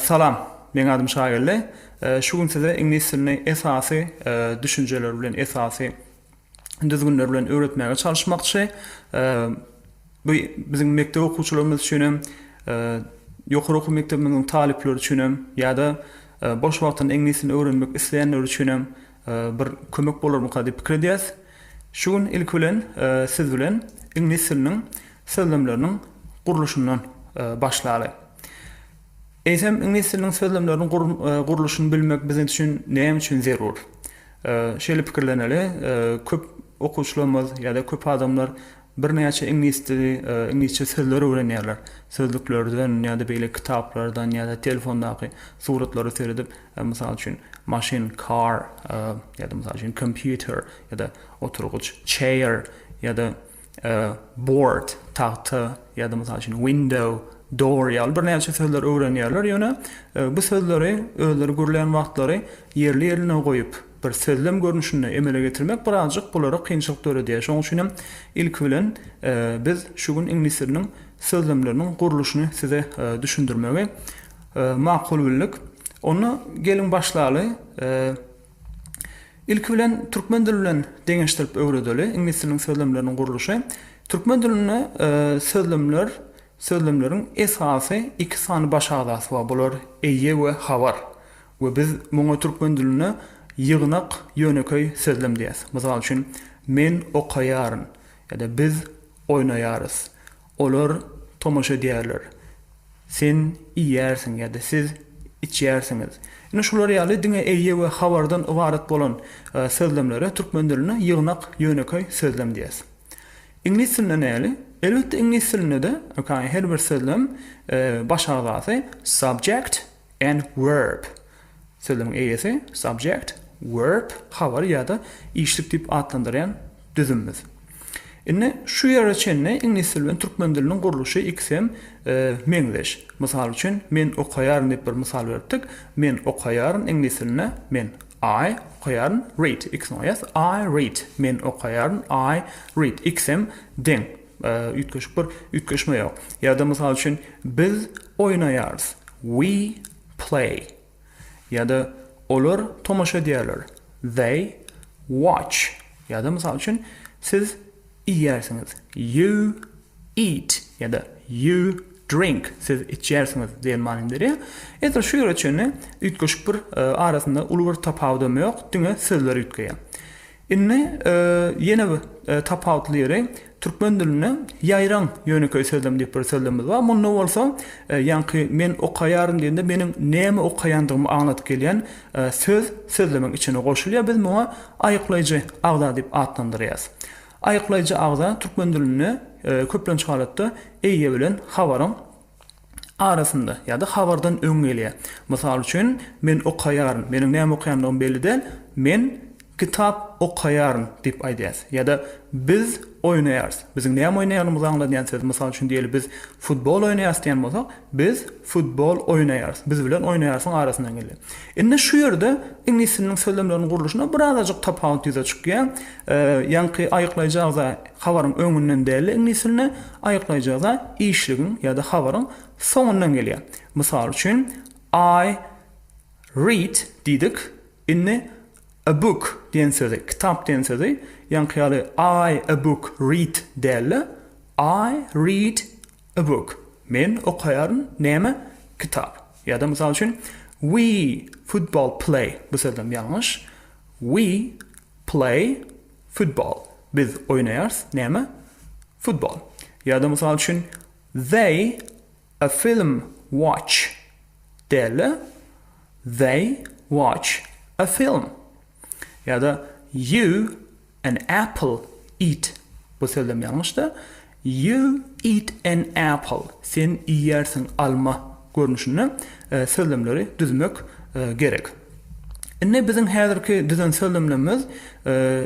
Salam. Meň adym Şageldi. Şu gün size iňlis dilini esasy düşünjeleri bilen, esasy düzgünleri bilen öwretmäge çalyşmakçy. Bu biziň mekdep okuwçylarymyz üçin hem, ýokary okuw mekdebimiziň talyplary üçin hem ýa-da boş wagtynda iňlis dilini öwrenmek isleýänler üçin hem bir kömek bolarmyka diýip pikir edýäs. Şu gün ilki bilen siz bilen iňlis diliniň sözlemleriniň gurluşyndan başlaly. Eýsem, iňlis diliniň sözlemleriniň gurluşyny bilmek biziň üçin näme üçin zerur? Şeýle pikirleneli, köp okuwçylarymyz ýa-da köp adamlar birnäçe iňlis dili, iňlisçe sözler öwrenýärler. Sözlüklerden ýa-da beýleki kitaplardan ýa-da telefondaky suratlara seredip, mysal üçin, maşyn, car, ýa-da, mysal üçin, kompýuter ýa-da oturgyç, chair, ýa-da. A board, tagta, ýa-da mysal üçin window, door ýaly birnäçe sözler öwrenýärler, ýöne bu sözleri özleri gürleýän wagtlary ýerli-ýerine goýup, bir sözlem görnüşinde emele getirmek birazjyk bulara kynçylyk döredýär. Şonuň üçin hem ilki bilen biz şu gün iňlis diliniň sözlemleriniň gurluşyny size düşündirmegi makul bildik. Onda geliň başlaly. Ilki bilen türkmen dili bilen deňeşdirip öwredeli. Iňlis diliniň sözlemleriniň gurluşy. Türkmen dilinde sözlemler, sözlemleriň esasy iki sany baş agzasy bar. Bular eýe we habar. We biz muňa türkmen dilinde ýygnak, ýönekeý sözlem diýýäs. Mysal üçin, Men okaýaryn. Ýa-da biz oýnaýarys. Olar tomaşa edýärler. Sen iýýärsiň ýa-da siz içýärsiňiz. Ine şular ýaly diňe eýe we habardan ybarat bolan sözlemlere türkmen dilinde ýygnak, ýönekeý sözlem diýýäs. Iňlis dilinde näli? Elbetde iňlis dilinde-de, ýöne her bir sözlem baş agzasy, subject, And verb. Sözüň eýesi, subject, verb, habar ýa-da işlik diýip atlandyrýan düzümimiz. Indi şu ýere çenli iňlis dili bilen türkmen diliniň gurluşy ikisem meňzeş. Mysal üçin, men okaýaryn diýip bir mysal beripdik. Men okaýaryn iňlis dilinde men, I, okaýaryn read. Ikisiniň eýesi I read. Men okaýaryn I read. Ikisem deň. Üýtgeşik bir üýtgeşme ýok. Ýa-da mysal üçin biz oýnaýarys, we play. Ýa-da olar tomaşa edýärler, they watch. Ýa-da mysal üçin siz iýýärsiňiz, you eat. Ýa-da you drink, siz içýärsiňiz diýen manyny berýär. Edil şu ýere çenli üýtgeşik bir arasynda uly bir tapawudam ýok, diňe sözler üýtgeýär. Indi ýene bir tapawutly ýeri, türkmen dilinde ýaýraň ýönekeý sözlem diýip bir sözlemimiz bar. Munda bolsa, ýaňky men okaýaryn diýende meniň näme okaýandygymy aňladyp gelýän söz sözlemeň içine goşulýar. Biz muňa aýyklaýjy agza diýip atlandyrýas. Aýyklaýjy agza türkmen dilinde köplenç halatda eýe bilen habaryň arasynda ýa-da habardan öň gelýär. Mysal üçin, Men okaýaryn, meniň näme okaýandygym belli däl, men kitap okaýaryn diýip aýdýas. Ýa-da Biz oýnaýarys. Biziň näme oýnaýanymyzy aňladýan söz. Mysal üçin, diýeli biz futbol oýnaýarys diýen bolsak, Biz futbol oýnaýarys. Biz bilen oýnaýarsyň arasyndan gelýär. Indi şu ýerde iňlis diliniň sözlemleriniň gurluşynda birazajyk tapawut ýüze çykýar. Ýaňky aýyklaýjy agza habaryň öňünden däldi iňlis dilinde. Aýyklaýjyda işligiň ýa-da habaryň soňundan gelýär. Mysal üçin, I read diýdik, indi a book diýen sözi, kitap diýen sözi, ýaňky ýaly I a book read däl-de, I read a book, men okaýaryn näme, kitap. Ýa-da, mysal üçin, We football play, bu sözlem ýalňyş, we play football, biz oýnaýarys näme, Futbol. Ýa-da mysal üçin, They a film watch däl-de, They watch a film. Ýa-da, You an apple eat, bu sözlem ýalňyşda, You eat an apple, sen iýýärsiň alma görnüşinde sözlemleri düzmek gerek. Indi biziň häzirki düzen sözlemlerimiz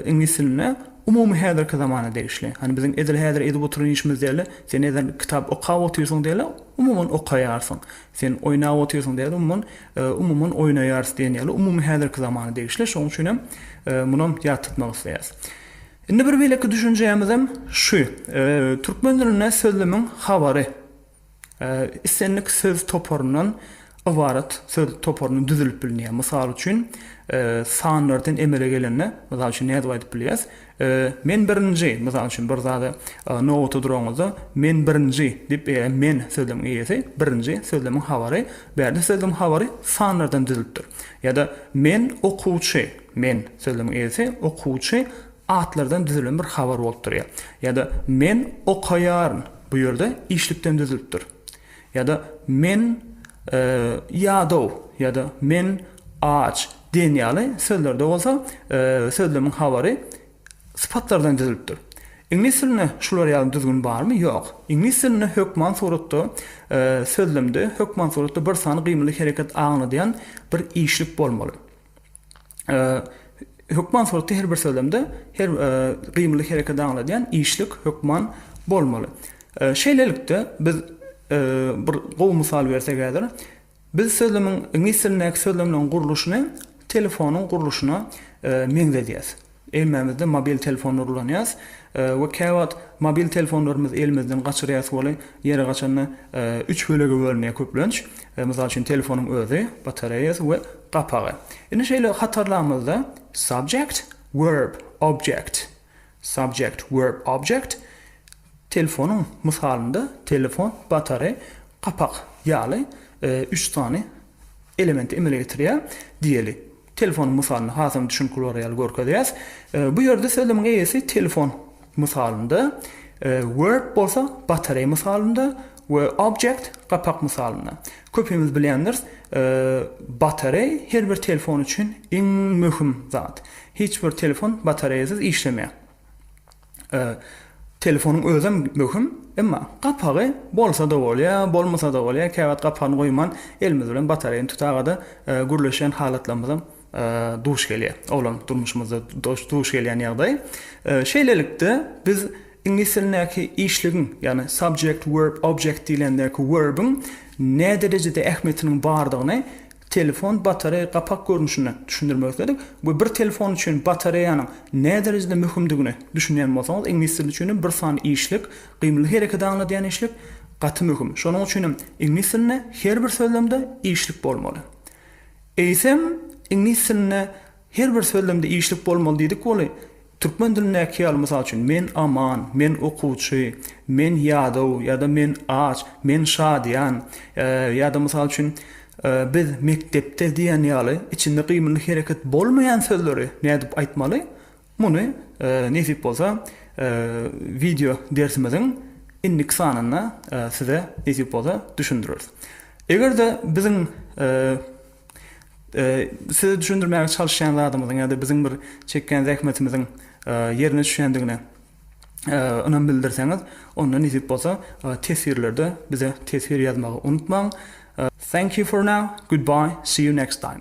iňlis diline umumy häzirki zamana degişli. Hany biziň edil häzir edip oturan işimiz dälde, sen edil kitap okap otyrsyň dälde, umuman okaýarsyň. Sen oýnap otyrsyň dälde, umuman umuman oýnaýarys diýen ýaly umumy häzirki zamana degişli. Şonuň üçin hem munam ýat tutmak isleýäris. Indi bir beýleki düşünjämizem şu. Türkmen dilinde sözlemiň habary. Islendik söz toparyndan ybarat söz toparyny düzülip bilneýär. Mysal üçin, sanlardan emele gelende, mysal üçin, nädip aýdyp bilýäs? Men birinji, mysal üçin, bir zada nobata duraňyzda, men birinji diýip, eýe, men sözlemiň eýesi, birinji sözlemiň habary, bärde sözlemiň habary sanlardan düzülipdir. Ýa-da men okuwçy, men sözlemiň eýesi, okuwçy Atlardan düzülen bir habar bolup durýar. Ýa-da Men okaýaryn. Bu ýerde işlikden düzülipdir. Ýa-da Men ýadaw ýa-da Men aç diýen ýaly sözlerde bolsa sözlemiň habary sypatlardan düzülipdir. Iňlis dilinde şular ýaly düzgün barmy? Ýok. Iňlis dilinde hökman suratda sözlemde hökman suratda bir sany gymyly hereket aňladýan bir işlik bolmaly. hökman suratda her bir sözlemde her gymyly hereketi aňladýan işlik hökman bolmaly. Şeýlelikde, biz bir gowy mysal bersek häzir, biz sözlemiň, iňlis dilindäki sözlemleriň gurluşyny telefonyň gurluşyna meňzedýäs. Hemmämizde mobil telefonlar ulanýas we käwagt mobil telefonlarymyzy elimizden gaçyrýas weli ýeri gaçanda üç bölege bölünýär köplenç. Mysal üçin telefonyň özi, batareýasy we gapagy. Indi şeýle hatarlamyzda subject, verb, object. Subject, verb, object. Telefonyň mysalynda telefon, batareý, gapak ýaly üç sany elementi emele getirýär diýeli. Telefonyň mysalyny hasam düşünikli bolar ýaly görkezýäs. Bu ýerde sözlemiň eýesi telefon mysalynda, verb bolsa batareý mysalynda we object gapak mysalynda. Köpimiz bilýändiris, batareý her bir telefon üçin iň möhüm zat. Hiç bir telefon batareýasyz işlemeýär. Telefonyň özem möhüm, emma gapagy bolsa-da bolýar, bolmasa-da bolýar. Käwagt gapagyny goýman, elimiz bilen batareýany tutagada gürleşýän halatlarymyzam duş gelýär. Olam durmuşymyzda duş gelýän ýagdaý. Şeýlelikde, biz iňlis dilindäki işligiň, ýagny subject, verb, object diýlendäki werbiň näderejede ähmiýetiniň bardygyny Telefon batareýa gapak görnüşinde düşündirmek isledik we bir telefon üçin batareýanyň näderejede möhümdigine düşünýän bolsaňyz iňlis dili üçin hem bir sany işlik, gymyly hereketi aňladýan işlik gaty möhüm. Şonuň üçin hem iňlis dilinde her bir sözlemde işlik bolmaly. Eýsem iňlis dilinde Her bir sözlemde işlik bolmaly diýdik weli, türkmen dilindäki ýaly, mysal üçin, men aman, men okuwçy, men ýadaw ýa-da men aç, men şadyýan ýa-da, mysal üçin, biz mekdepde diýen ýaly içinde gymylly hereket bolmaýan sözleri nädip aýtmaly, muny, nesip bolsa, wideo dersimiziň indiki sanynda size, nesip bolsa, düşündireris. Eger-de biziň. Size düşündirmäge çalyşýan zadymyzyň ýa-da biziň bir çekýän zähmetimiziň ýerine düşýändigine ynam bildirseňiz, onda nesip bolsa teswirlerde bize teswir ýazmagy unutmaň. Thank you for now, goodbye, see you next time.